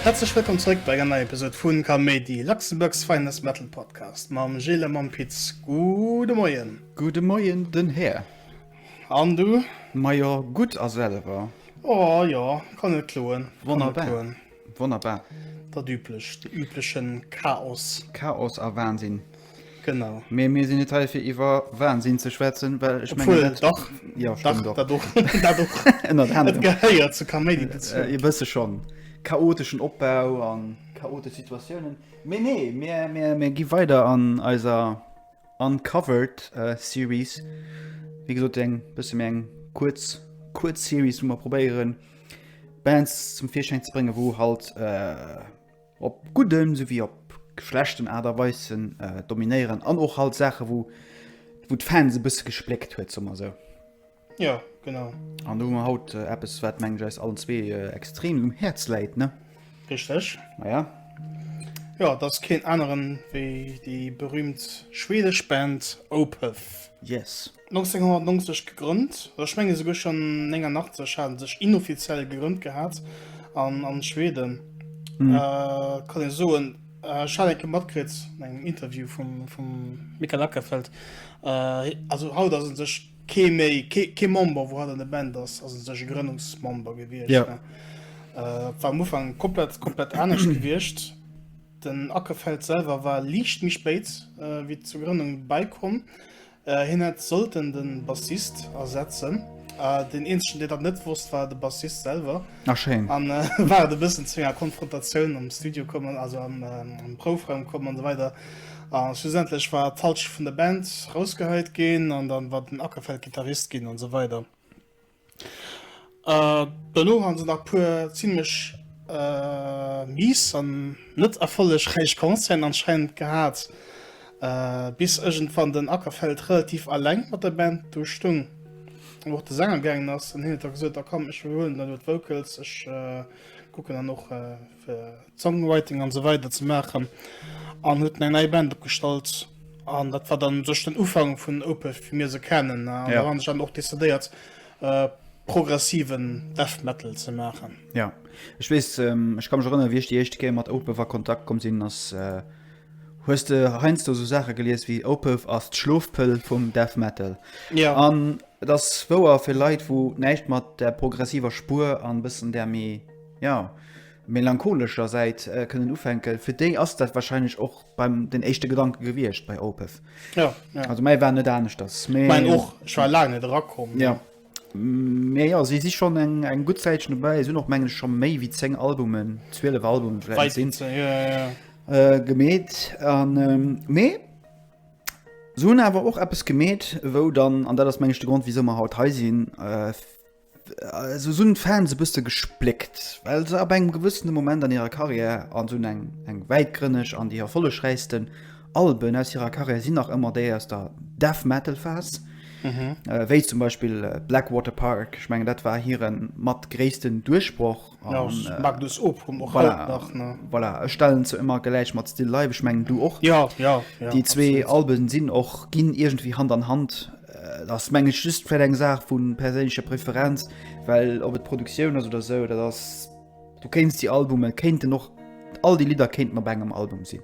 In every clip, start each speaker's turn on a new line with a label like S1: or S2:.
S1: Häerzlech wëllkomm zrëck bei enger neier Episode vun Kaméidi, Luxembourg's finest metal podcast mam Gilles a mam Pit. Gudde Moien! Gudde Moien, den
S2: Här! An du?
S1: Majo, gutt,
S2: a selwer? Oh jo,
S1: kann net kloen. Wonnerbar!
S2: Wonnerbar. Dat üblech,
S1: de übleche Chaos. Chaos a Wahnsinn.
S2: Genau. Mee
S1: mir sinn net hei
S2: fir iwwer Wahnsinn ze schwätzen, well ech mengen. Obwuel, dach. Jo, stëmmt
S1: och. Dat och.
S2: Dat och.
S1: Ënnert
S2: anerem. Et gehéiert zur
S1: Kaméidi dozou. E bësse schonn.
S2: Chaoteschen Opbau a chaotesch Situatiounen. Mee nee, mir, mir gi weider an eiser Uncovered Series. Wéi gesot, eng bësse méi eng kuerz, kuerz Series, wou mer probéieren, Bands zum Virschäin ze bréngen, wou halt op gudden souwéi op schlechten Aart a Weisen dominéieren an och halt Saache wou wou d'Fans e bësse gespléckt huet, soe mer esou. Jo,
S1: genau. An do hu mer haut
S2: eppes, wat mengen ech eis allen zwee extrem um Häerz läit, ne? Richteg.
S1: Maja.
S2: Jo,
S1: et ass keen aneren wéi déi berüümt schwedesch Band Opeth. Yes. 1990 gegrënnt, oder ech mengen esouguer schonn 89 hat et sech inoffiziell gegrënnt gehat an an Schweden kann ee soen ech hat enke matkritt an engem Interview vum vum Mikael Ackerfeldt, also haut ass et sech kee méi kee kee Member wou haut an der Band ass ass et sech e Grënnungsmember gewiescht jo et
S2: war
S1: am Ufank komplett komplett anescht gewiescht. Den Ackerfeldt selwer war liicht méi spéit wéi zur Grënnung bäikomm. Hien hätt sollten de Bassist ersetzen. Deen eenzegen, deen dat net wosst, war de Bassist selwer. Ah, schéin. An
S2: war et e
S1: bëssen zu enger Konfrontatioun am Studio komm, also am Proufraum komm an esou weider. A schlussendlech war d'Halschent vun der Band rausgehäit ginn an dann war den Ackerfeld Gittarist ginn an esou weider. Dono hu se nach puer zimlech mies an net erfollegräich Concerten anscheinend gehat, bis iergendwann den Ackerfeldt relativ alleng mat der Band do stung an och de Sänger gaangen ass an hien huet da gesot, a komm ech iwwerhuelen dann elo d'Vocals, ech kucken dann och. Songwriting an esou weider ze maachen an huet eng nei Band opgestallt an dat war dann sech den Ufank vun Opeth wéi mir se kennen an yeah. han sech dann och decidéiert äh, progressiven Death Metal ze maachen. Ja Ech
S2: wees ech ähm, kann mech rënner wie ech die echte Kéier mat Opeth a Kontakt kom sinn ass äh, hues de heinz do so Sache gelies wie Opeth ass d'Schlofpëll vum Death Metal. Ja. An
S1: et ass
S2: wouer fir Leit, wou näischt mat der progressiver Spur an bëssen der méi Ja, melancholescher Säit äh, kënnen ufänken. Fir déi ass dat wahrscheinlich och beim den éischte Gedanke gewiescht bei Opeth. Ja, ja. Also
S1: mei war net
S2: anescht das. Mee, ich mein, och ich war
S1: lang net rakom. Ja.
S2: Mee ja, si si schon eng eng gut Zäitchen dobäi, sinn och mengen schon méi wéi 10 Albumen, 12 Albumen vielleicht sinn ja, ja. äh,
S1: gemet
S2: an ähm, mee so hunn awer och eppes gemet, wou dann an dat ass mengechte Grund wieso mer haut hei sinn. Äh, Esou sinn d'Fans e bësse gespléckt, well se ab engem gewëssene Moment an hirer Karriär, an esou eng eng wäitgrënneg an déi erfollegräichsten Alben aus hirer Karriär sinn nach ëmmer déi aus der Death Metal Phas, wéi zum Beispill Blackwater Park, ech mengen dat war hiren mat gréissten Duerchbroch.
S1: stellen ze ëmmer
S2: geläich mat Still Life ech mengen du och ja ja déi
S1: zwee
S2: Alben sinn och
S1: ginn
S2: iergendwéi Hand an Hand ass meng ech just fir eng Saach vun perséinlecher Preferenz well op et Produktioun ass oder sou dat ass du kéinst déi Albume kéinten och all déi Lidder kéinten op engem Album sinn.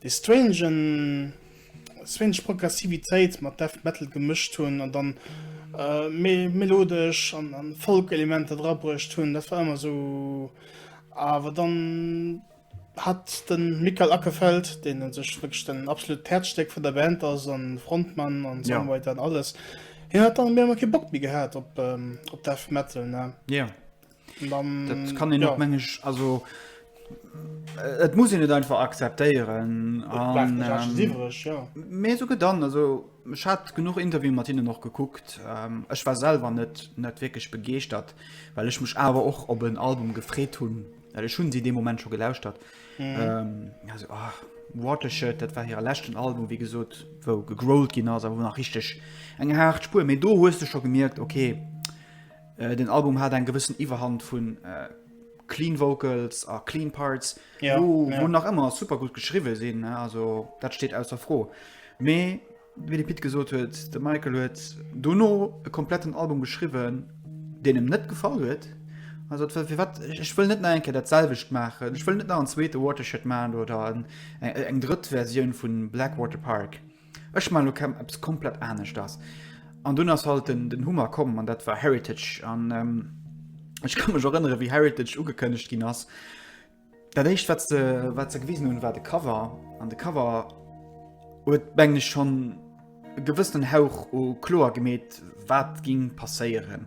S1: déi strange Progressivitéit mat Death Metal gemëscht hunn an dann méi melodesch an Folk-Elementer dra bruecht hunn, dat war ëmmer esou. Awer dann hat de Mikael Åkerfeldt, deen u sech wierklech den absolut d'Häerzstéck vun der Band ass a Frontmann a Songwriter an alles, hien hat dann op eemol kee Bock méi gehat op Death Metal.
S2: Dat
S1: kann en och mengeg
S2: also äh, et muss en net einfach akzeptéieren mé so dann also Ech hat genug Interview mat hinnen noch geguckt. Ähm, ech war selber net net wirklich begeeschtert, weil ech mech awer och op en Album gefréet hunn, dat ech hunn si de Moment scho gelauscht hat. Mhm. Ähm, also, oh, Watershed, dat war hire lächten Album wie gesot, wou gegrollt ginn ass a wo nach richteg eng hart Spuer. méi do hues du scho gemierkt, okay. Den Album hat eng gewëssen Iwwerhand vu clean Vocals a clean Parts, ja, wou ja. nach ëmmer super gut geschriwwe sinn, also dat steet aus der Fro. Mee wéi de Pit gesot huet, de Michael huet dono e kompletten Album geschriwwen, deen em net gefall huet. Also fir wat ech wëll net enke dat selwecht maachen. Ech wëll net nach en zweete Watershed man oder eng drëtt Verioun vun Blackwater Park. Ech man lo eppes komplett aneschters. An dun ass halt den Hummer komm an dat war Heritage an ech kann mech erënnere wéi Heritage ugekënnegt ginn ass. Dat éischt wat se wat se gewisen hunn war de Cover an de Cover huet mengen ech schonn gewëssenen Hauch u kloer gemeet wat ging passéieren.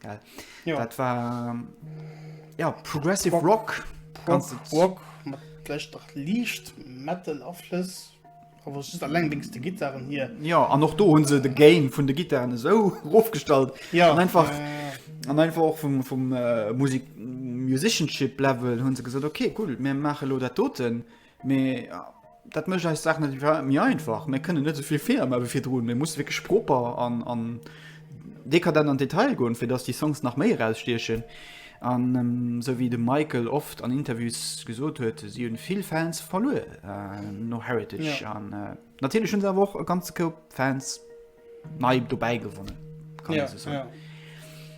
S2: Geil. Ja. Dat war ja, Progressive Rock, Rock, ganz Rock
S1: matlächt nach liicht Metal Aflëss awer just allengdings de Gitarren hier. Ja an och do hunn se
S2: de Gain vun de Gitarren esou ofgestallt. Ja an einfach äh, an einfach och vum, vum äh, Musik Musicianship Level hunn se gesot okay cool, mir mache lo dat doten. Äh, Mee dat mécht eis Saach net méi einfach. Mir kënnen net souvill Feeler ma wéi virdrun. Mir musse wierklech proper an, an dekadent an d'Detail goen, fir datt déi Songs nach méi erausstiechen. An esou ähm, wéi de Michael oft an Interviews gesot huet, si hunn vill Fans verluer äh, no Heritage. Ja. An äh, natierlech hunn se awer och e ganze Koup Fans nei dobäi gewonnen. Kann ja, so. ja.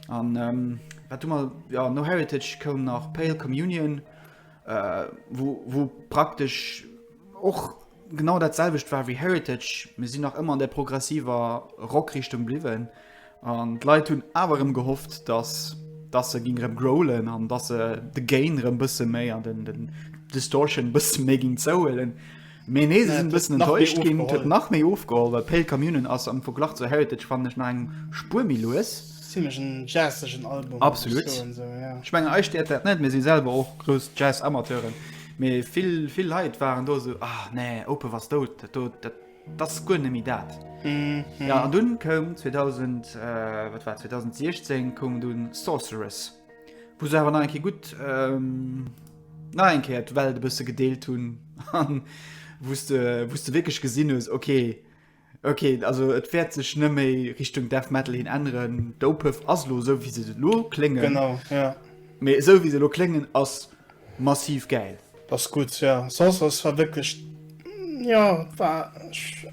S2: An ähm, wat du mal ja, no Heritage koum nach Pale Communion. wou praktesch och genau dat selwecht war wéi Heritage, mir sinn nach ëmmer an der progressiver Rockrichtung bliwwen an d'Leit hunn awer erëm gehofft, dass dass se ginn erëm growlen an dass se de Gain erëm bësse méi an den Distortion bësse méi ginn zouhuelen. Mee nee, se sinn e bëssen enttäuscht ginn. Et huet nach méi ofgeholl, well Pale Commune ass am Verglach zu Heritage, fannen ech, nach eng Spuer méi lues. Zimlech en
S1: jazzegen Album. Absolut. Ech
S2: mengen
S1: eis stéiert dat net,
S2: mir si selwer och grouss Jazz-Amateuren. Mee vill, vill Leit waren do esou, ah nee, Opeth ass dout, dat do, dat ass guer net méi dat. Jo, an dunn koum 2000, wat war et, 2016 koum dunn Sorceress, wou se awer nach eng Kéier gutt, nach eng Kéier d'Welt e bësse gedeelt hunn an wou s de, wou s de wierklech gesinn hues, okay, okay, also et wäert sech net méi Richtung Death Metal hin änneren. D'Opeth ass elo esou, wéi se elo kléngen. Genau,
S1: ja. Mee esou, wéi se elo
S2: kléngen, ass massiv gäil. Ass gutt, ja.
S1: Soss ass war wierklech, jo, war,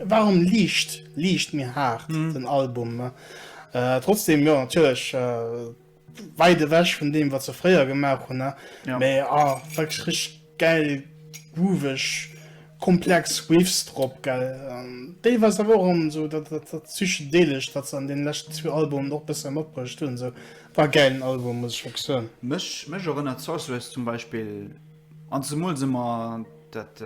S1: war erëm liicht, liicht méi haart, den Album. Trotzdem, jo, natierlech. Weit ewech vun deem wat se fréier gemaach hunn, mee ah
S2: wierklech
S1: richteg gäil, grooveg, komplex Riffs drop, gell, an deelweis awer och an esou dat Psychedelescht wat se an deene leschten zwee Albumen och bësse matbruecht hunn, esou war e gäilen Album, muss ech wierklech soen. Mech erënnert
S2: Sorceress zum Beispill an zemools ëmmer dat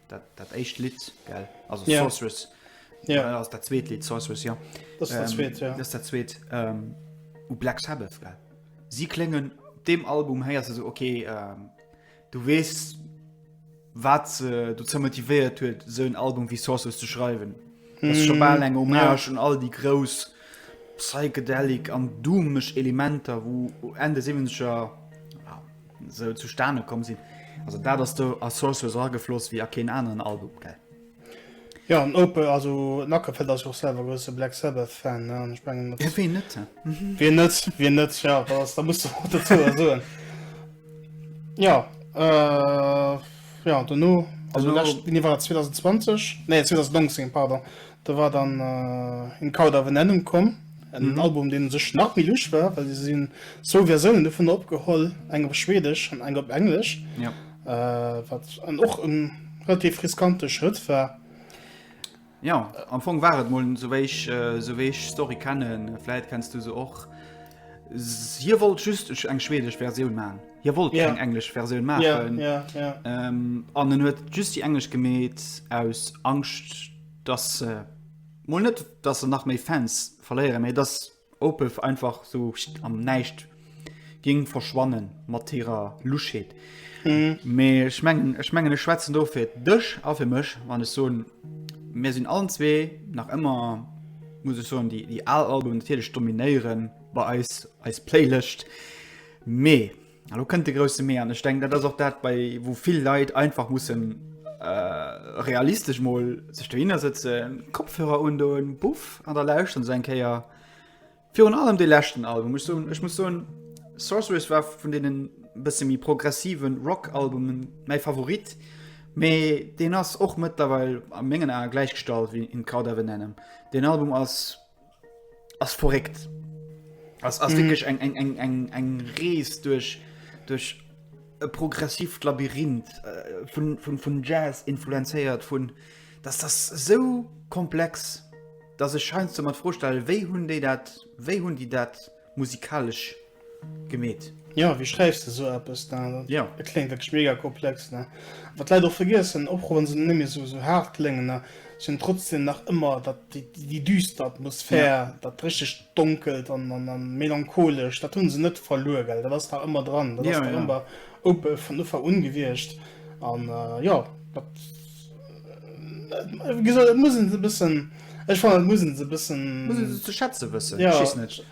S2: dat éischt Lidd, gell, also Sorceress. Ja. Äh, ass dat zweet Lied Sorceress, ja. Das ist der zweet,
S1: ja. Das ist der zweet
S2: ähm, u Black Sabbath, gell? Si kléngen dem Album héier se so okay, ähm, du wees wat se du ze motivéiert huet, so en Album wie Sorceress ze schreiwen. Das ist schon mal eng Hommage an all die grouss psychedelic an doomeg Elementer, wo Ende 70er ja, so zustane komm sinn. Also dat ass do a Sorceress agefloss wie a keen aneren Album, gell? Ja
S1: an Ope also Nackefeld ass och selwer grosse Black Sabbath Fan ne? Ech mengen dat Ja, ween net?
S2: Wie net wie
S1: net ja da ass da muss du och dozou was soen. Ja äh, ja dono also Dono- lescht Vini war 2020 nee 2019 pardon do war dann äh, In Cauda Venenum komm en Album deen u sech nach méi luusch war well se hunn zwou Versiounen dovunner opgeholl, eng op Schweedesch an eng op Englesch. Ja.
S2: wat
S1: an och en relativ riskante Schrëtt war. Ja
S2: am Fong war et mol souwéich äh, souwéich Story kennen, Fläit kennst du se och. Hier wollt just eng schwedesch Verioun man. Hier wollt yeah. eng englesch Verioun man
S1: yeah,
S2: yeah, yeah. ähm,
S1: an
S2: en huet just die englesch gemet aus Angst dass äh, mol net dass se nach méi Fans verléieren méi dass Opeth einfach so am Näischt géing verschwannen mat hirer Luschheet. Mhm. Mee ech mengen ech mengen ech schwätzen do fir dech a fir mech, wann ech soen, mir sinn allen zwee nach ëmmer muss ech soen, déi déi al Albumen natierlech dominéieren bei eis eis Playlëscht. Mee Elo kënnt de grousse Mee an ech denken, dat ass och dat, bei wou vill Leit einfach mussen äh, realistesch mol sech dohinner sëtzen, Kopfhörer undoen, buff, an der lauschteren se eng Kéier virun allem de leschten Album. Ech, so, ech muss soen, Sorceress war vun deenen bësse méi progressiven Rock-Albumen mäi Favorit, mee deen ass och mëttlerweil a mengen Ae gläichgestallt wéi In Cauda Venenum. Deen Album ass ass verréckt. Ass ass wierklech eng eng eng eng eng Rees duerch duerch e progressivt Labyrinth äh, vun vun vun Jazz influenzéiert vun dass das sou komplex dass ech scheinst du mat froh stellen wéi hunn déi dat wéi hunn déi dat musikalesch gemeet. Jo, wéi schreiws
S1: de sou eppes? Et kléngt wierklech mega komplex. Wat d'Leit och vergiessen, Oprouen sinn net méi sou haart kléngen, mä si hunn trotzdem nach ëmmer dat, déi düster Atmosphär, dat richteg donkelt a melancholescht, dat hunn se net verluer, gell? Dat ass nach ëmmer dran, dat ass nach ëmmer vun Ufank un gewiescht. An jo, dat. Gesoot, et muss een se e bëssen, ech fannen, et muss een se e bëssen. Muss een se ze schätze wëssen. Ja.
S2: Schiss net. Ech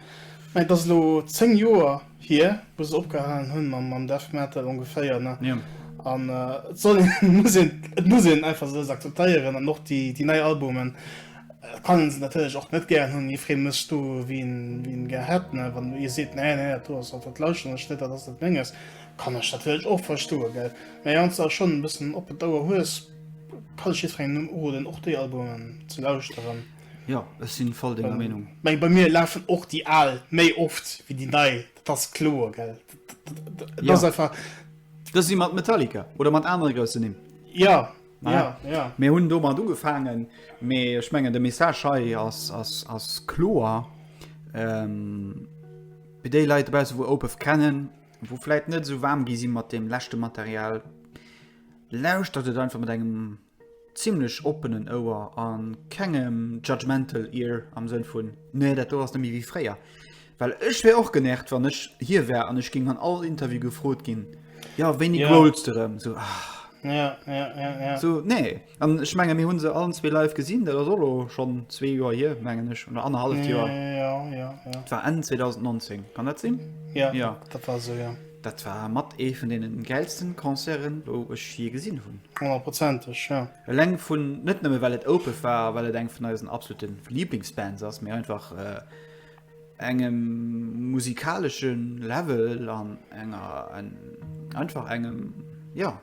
S2: mengen, et ass elo
S1: 10 Joer hier, wou se opgehalen hunn mam, mam Death Metal ongeféier, ne? Jo. An
S2: et
S1: soll een, et muss een, et muss een einfach se akzeptéieren an och déi, déi nei Albumen kann een se natierlech och net gären hunn. Jiddweree mécht do, wéi en, wéi en gär hätt, ne? Wann ee seet, Nee, nee, dat do ass, dat, dat lauschteren ech net, dat ass net Menges, Kann ech natierlech och verstoen, gell? Mä wann s de der schonn e bëssen op den Ouer hues, kann ech jiddwerengem nëmmen uroden, och déi Albumen ze lauschteren. Jo, ech sinn
S2: voll denger Meenung. Meng, bei mir lafen
S1: och déi al méi oft wéi déi nei, dat ass kloer, gell? Dat ass einfach. Dës si mat
S2: Metallica oder mat anere grousse Nimm. Jo, jo,
S1: jo.
S2: Mir hunn domat
S1: ugefaangen,
S2: mee ech mengen, de Message hei ass kloer. Fir déi Leit dobausse wou Opeth kennen. wou vläit net esou waarm gi si mat deem leschte Material, lauschtert et einfach mat engem zimmlech oppenen Ouer a kengem judgmental ear am Sënn vun, nee dat do ass net méi wéi fréier. Well ech wär och genervt, wann ech hie wär an ech géing an all Interview gefrot ginn, jo wéini growls de erëm? Esou,
S1: ah. So, nee.
S2: An ech menge mir hunn se allen zwee live gesinn, dat ass och elo schonn zwee Joer hier mengen ech oder annerhalleft Joer. Ja, ja, ja. Dat
S1: war Enn 2019,
S2: kann dat sinn? Ja, ja. dat war
S1: esou, ja. Dat war mat
S2: ee vun deene gäilsten Concerten, wou ech jee gesinn hunn. Honnertprozenteg, ja.
S1: Eleng vun, net
S2: nëmme well et Opeth war a well et eng vun eisen absoluten Lieblingsbands ass, mee einfach. engem musikalesche Level an enger en, einfach engem ja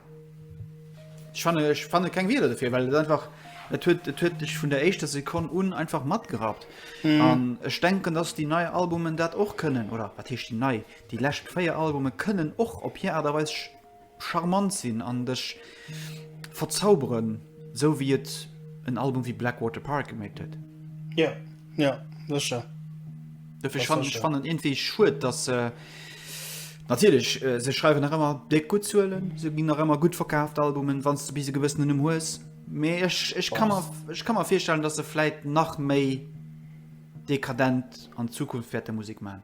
S2: schwanne ech fanne keng Wieler defir, well et einfach et huet et huet dech vun der éischter Sekonn un einfach matgerappt. Mhm. An ech denken, dass déi nei Albumen dat och kënnen oder wat heescht déi nei, déi lescht véier Albume kënnen och op hir Aart a Weis charmant sinn an dech verzauberen, sou wéi et en Album wéi Blackwater Park geméit huet. Jo,
S1: jo, sécher. Dofir
S2: fannen ech fannen iergendwéi schued, datt se, natierlech, se schreiwen nach ëmmer déck gutt Zuelen, se ginn nach ëmmer gutt verkaaft Albumen, wann s de bis e gewëssenen Numm hues, mee ech, ech ka mer, ech ka mer virstellen, datt se vläit nach méi dekadent an Zukunft wäerte Musek maachen.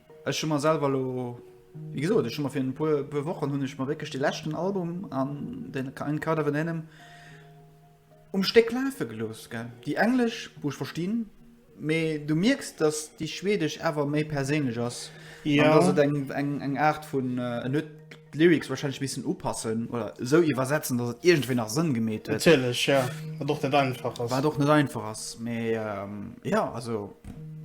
S2: Ech hu mer selwer elo, wéi gesot, ech hu mer fir e puer, puer Wochen hunn ech mer wierklech de leschten Album an den Kind of an Ennem um Stéck lafe gelooss, gell. Déi englesch, wou ech verstinn, mee du mierks, datt déi schwedesch awer méi perséinlech ass an datt et eng,
S1: eng,
S2: eng Aart vun, en huet. D'Lyrics wahrscheinlech missen upassen oder esou iwwersetzen, dass et iergendwéi nach Sënn gemeet huet. Natierlech, ja. Wat och
S1: net einfach ass. Wat och net einfach ass.
S2: Mee jo, also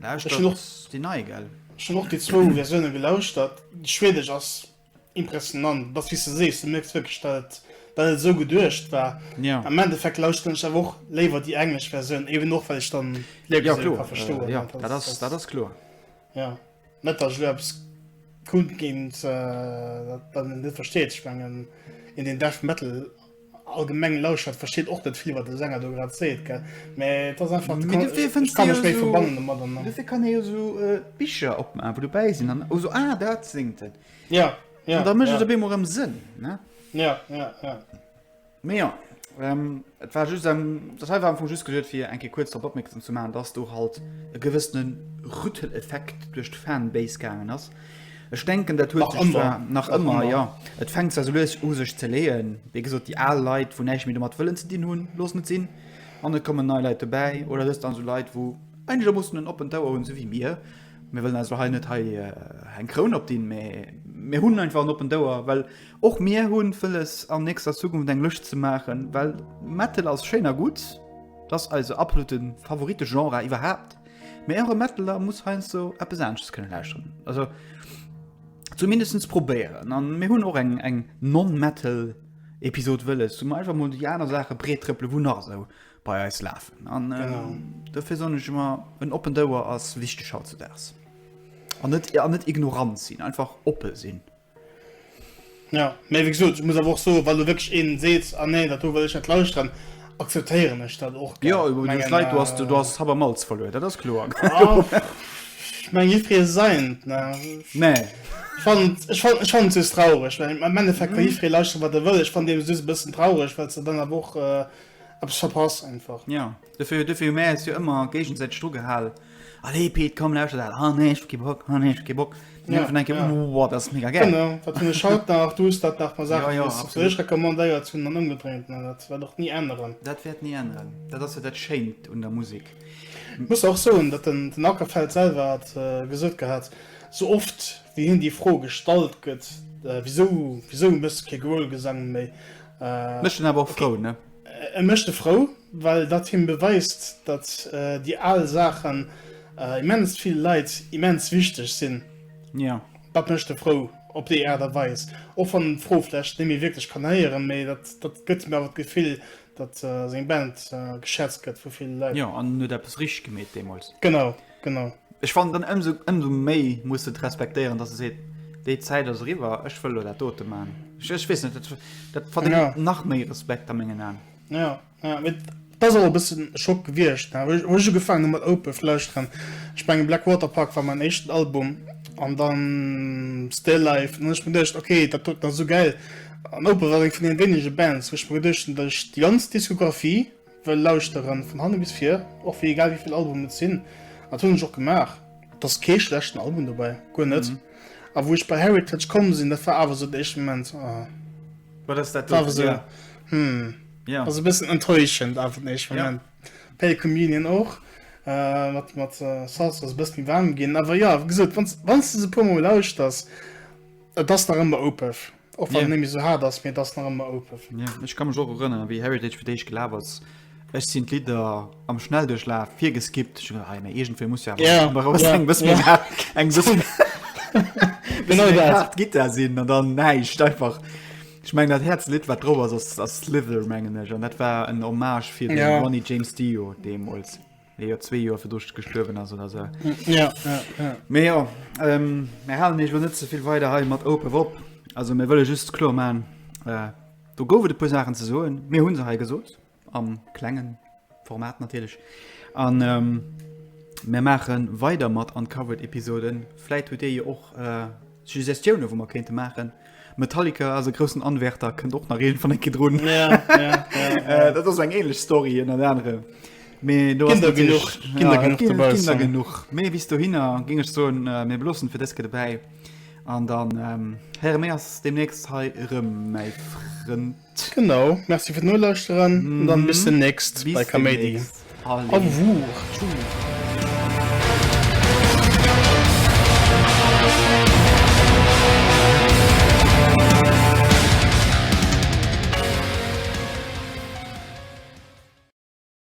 S2: lauschtert
S1: déi nei,
S2: gell?
S1: Ech hunn och déi zwou
S2: Versioune
S1: gelauschtert. Déi schwedesch ass impressionant. Et ass wéi s de sees, du mierks wierklech, dat et dat et esou geduecht war. Am Endeffekt
S2: lauschteren
S1: ech awer och léiwer déi englesch Versioun, eben och well ech dann d'Lyrics esou ka verstoen.
S2: Jo,
S1: dat ass
S2: kloer. Jo,
S1: net datt ech elo eppes kundginn, wat een net versteet. Ech mengen, een deen Death Metal allgemeng lauschert, versteet och net vill, wat de Sänger do grad seet, gell? Mä et ass einfach, ech ka mech méi
S2: verbannen domat. Mä
S1: dofir
S2: kann
S1: ee jo esou
S2: Bicher opmaachen, wou dobäi sinn, an, oh, esou, ah, dat séngt en. Ja, ja, ja. An da
S1: mécht et op eemol erëm
S2: Sënn,
S1: ne?
S2: Ja, ja,
S1: ja.
S2: Mee jo, et war just, dat hei war am Fong just geduet fir eng Kéier kuerz drop opmierksam ze maachen, dass do halt e gewëssene Rütteleffekt duerch d'Fanbase gaangen ass. Ech denken dat huet sech zwar, nach
S1: ëmmer, jo,
S2: et
S1: fänkt zwar
S2: esou lues u sech ze leeën. Wéi gesot, déi al Leit, wou näischt méi domat wëllen ze dinn hunn, loossen et sinn an et kommen nei Leit dobäi. Oder et ass dann esou Leit, wou einegermoossen en oppent Ouer hunn, esou wéi mir. Mir wëllen eis elo hei net hei eng Kroun opdinn, mee mir hunn einfach en oppent Ouer, well Och mir hunn vëlles an nächster Zukunft eng Lëscht ze maachen, well Metal ass schéin a gutt, et ass eise absolute Favoritegenre iwwerhaapt, mee och e Metaler muss heiansdo eppes anesches kënne lauschteren, also zumindest probéieren. An mir hunn och eng eng Non-Metal Episod wëlles, wou mer einfach mol déi aner Saache breettrëppele wou nach esou bei eis lafen. An dofir
S1: soen ech ëmmer,
S2: en oppent Ouer ass wichteg hautzedaags. An net an net ignorant sinn, einfach oppe sinn.
S1: Jo, mee wéi gesot, ech muss awer och soen, wa lo wierklech een seet, ah nee, dat do wëll ech net lauschteren, akzeptéieren ech dat och, gell. Jo, iwwer déi Zäit do ass,
S2: do ass Hab a Malz verluer, dat ass kloer. Ech
S1: mengen, jiddweree seint, ne. Nee. Ech
S2: fannen,
S1: ech fannen, ech fannen et just traureg, well am Endeffekt ka jiddweree lauschteren, wat e wëll. Ech fannen deemno just e bëssen traureg, well s de dann awer och eppes verpasst einfach. Jo. Dofir hu mir
S2: eis jo ëmmer géigesäiteg dru gehal, Allez Pit, komm lauschter dat, ah nee, ech hu kee Bock, ah nee, ech hu kee Bock. An iergendwann denke mir, Wow,
S1: dat
S2: ass mega
S1: gäil!
S2: Genau, dat hunn ech haut
S1: nach, du hues dat nach, ma Saachen, déi ech fir dech recommandéiert hunn, an ëmgedréint, mä dat wäert och ni änneren. Dat wäert ni änneren,
S2: dat ass jo dat Schéint un der Musek. Et muss och
S1: soen, datt den Ackerfeld selwer hat gesot gehat, sou oft wéi hien déi Fro gestallt gëtt, Wisou, wisou méchs du kee Gröhlgesang méi? Mécht en awer
S2: och frou, ne? E mécht e frou,
S1: well datt him beweist, datt déi al Saachen immens vill Leit immens wichteg sinn. Jo. Datt
S2: mécht e frou
S1: op déi Aart a Weis, och wann en d'Fro vläicht net méi wierklech kann héieren, mee datt gëtt him awer d'Gefill, datt seng Band geschätzt gëtt vu ville Leit. Jo, an en huet eppes richteg
S2: gemeet deemools. Genau. genau
S1: ech fand
S2: dann ëmso ëmso méi muss et respektéieren dass se seet déi Zäit ass riwwer ech wëll dat dote man ech, ech wees net dat fand ja. nach méi Respekt
S1: am mengen
S2: an ja, ja mit
S1: da soll bis schock gewircht wo se gefangen mat ope fleisch dran ich mein, black waterpark war mein echten album an dann still life und ich bin dichcht okay dat tut da so geil an ope war von den wenige bands wo ich mir dichchten durch die ganz diskografie Wëll lauschteren vun hanne bis vir, och wéi egal wéivill Album et sinn, an dat hunn ech och gemaach. Et ass kee schlechten Album dobäi, guer net. A wou ech bei Heritage komm sinn, dat war awer esou den éischten Moment, oh, Wat
S2: ass dat do fir dir?
S1: Hm,
S2: ass e bëssen
S1: enttäuschend awer den éischten Moment. Pale
S2: Communion
S1: och mat Sultans ass e bësse méi waarm ginn. Awer jo, wéi gesot, wann s de se e puer mol lauschters, et ass nach ëmmer oupef. Och wann yeah. nämmi so hart ass mir
S2: das
S1: nach ëmmer open. Ja, yeah. Ech kann mech och
S2: erënnern, wéi Heritage fir déich gelaf ass. Ech sinn d'Lidder am Schnelldurchlaf fir geskippt. Ich dachte, hey, mir irgendwer muss ja yeah. mal raus yeah. bis mir
S1: yeah.
S2: eng so
S1: genau dat Git da sinn an dann
S2: neicht einfach. Ich meng dat Herz Lit wat drop ass ass Slither mengen ech an dat war en Hommage fir yeah. Ronnie James Dio deemols. Mee jo zwee Joer virdru gestuerwen ass oder sou. Ja, ja, ja.
S1: Mee jo,
S2: ähm, mir halen eech lo net zevill weider hei mat Open op. Also mir wëlle just kloer man, äh, do gouf et e puer Saachen ze soen. Mir hunn se hei gesot, am klengen Format natierlech. An ähm, mir maache weider mat Uncovered-Episoden. Vläit hutt Dir jo och äh, Suggestioune, wou mer kéinte maachen. Metallica ass e groussen Anwärter, kënnt och nach iergendwann eng Kéier drun.
S1: Dat
S2: ass eng ähnlech Story ënnert anerem. Mee do ass
S1: natierlech, ja, et ginn der genuch. Mee bis
S2: dohinner géing ech soen, mir beloossen fir dës Kéier dobäi an dann héiere mir eis deemnächst hei erëm, mäi Frënd. Genau, merci
S1: fir d'Nolauschteren an dann bis demnächst bei Kaméidi. Au
S2: revoir.